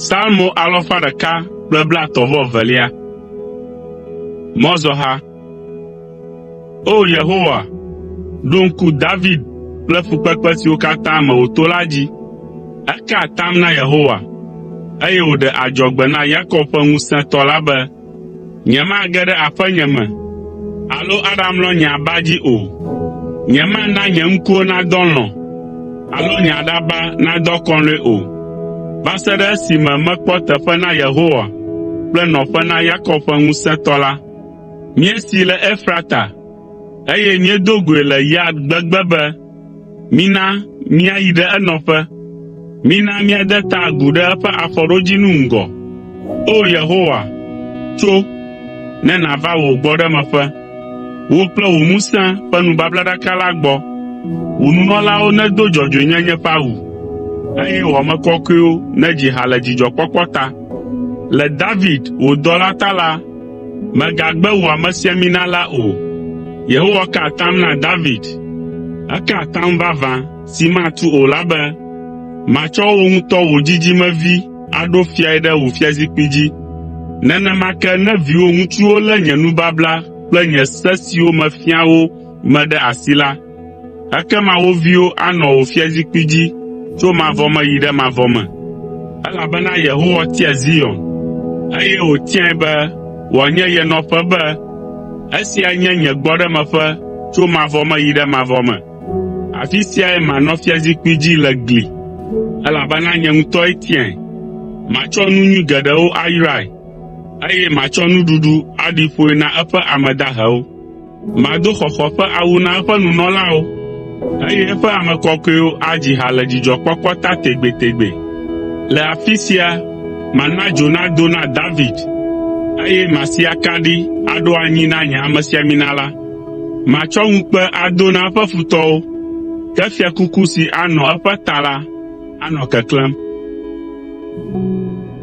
Salmo alɔfa ɖeka kple blatɔ̃ vɔ evelia. Mɔzɔha. O Yehowa, ɖo ŋku David kple fukpekpe siwo katã me wòto la dzi. Eka atam na Yehowa, eye wòɖe adzɔgbe na Yakob ƒe Ŋusẽtɔ la be, “Nyemage ɖe aƒenye me alo aɖamlɔ nye aba dzi o. Nyemana nye ŋkuwo nadɔ alɔ̃ alo nye aɖaba nadɔ akɔlɔ̃e o, va se ɖe esime mekpɔ teƒe na Yehowa kple nɔƒe na Yakob ƒe Ŋusẽtɔ la.” Míesii le Efrata, eye míedo goe le Yaar gbegbe be, Mina míayi ɖe enɔƒe. Mina míade ta agu ɖe eƒe afɔɖodzinu ŋgɔ. O Yehowa, tso, ne nàva wò gbɔɖemeƒe. Wò kple wò ŋusẽ ƒe nubablaɖaka la gbɔ. Wò nunɔlawo nedo dzɔdzɔenyenye ƒe awu, eye wò ame kɔkɔewo nedzi ha le dzidzɔkpɔkpɔ ta. Le David, wò dɔla ta la, “Mègagbe wò amesiamina la o.” Yehowa ka atam na David. Eka atam vavã si matu o la be, “Matsɔ wò ŋutɔ wò dzidzimevi aɖo fiae ɖe wò fiazikpui dzi.” Nenema ke ne viwò ŋutsuwo lé nye nubabla kple nye se siwo mefia wo me ɖe asi la, Ekema wo viwo anɔ wò fiazikpui dzi tso mavɔ me yi ɖe mavɔ me, elabena Yehowa tia Zion, eye wòtiae be wòanye ye nɔƒe be, “Esia nye nye gbɔɖemeƒe tso mavɔ me yi ɖe mavɔ me, afi siae manɔ fiazikpui dzi le gli, elabena nye ŋutɔe tiae. Matsɔ nu nyui geɖewo ayrae, eye matsɔ nuɖuɖu aɖi ƒoe na eƒe ame dahewo.” Mado xɔxɔ ƒe awu na eƒe nunɔlawo, eye eƒe ame kɔkɔewo adzi ha le dzidzɔkpɔkpɔ ta tegbetegbe. Le afi sia mana dzo nado na David, eye masi akaɖi aɖo anyi na nye amesiamina la. Matsɔ ŋukpe ado na eƒe futɔwo, ke fiakuku si anɔ eƒe ta la anɔ keklẽm.’ ”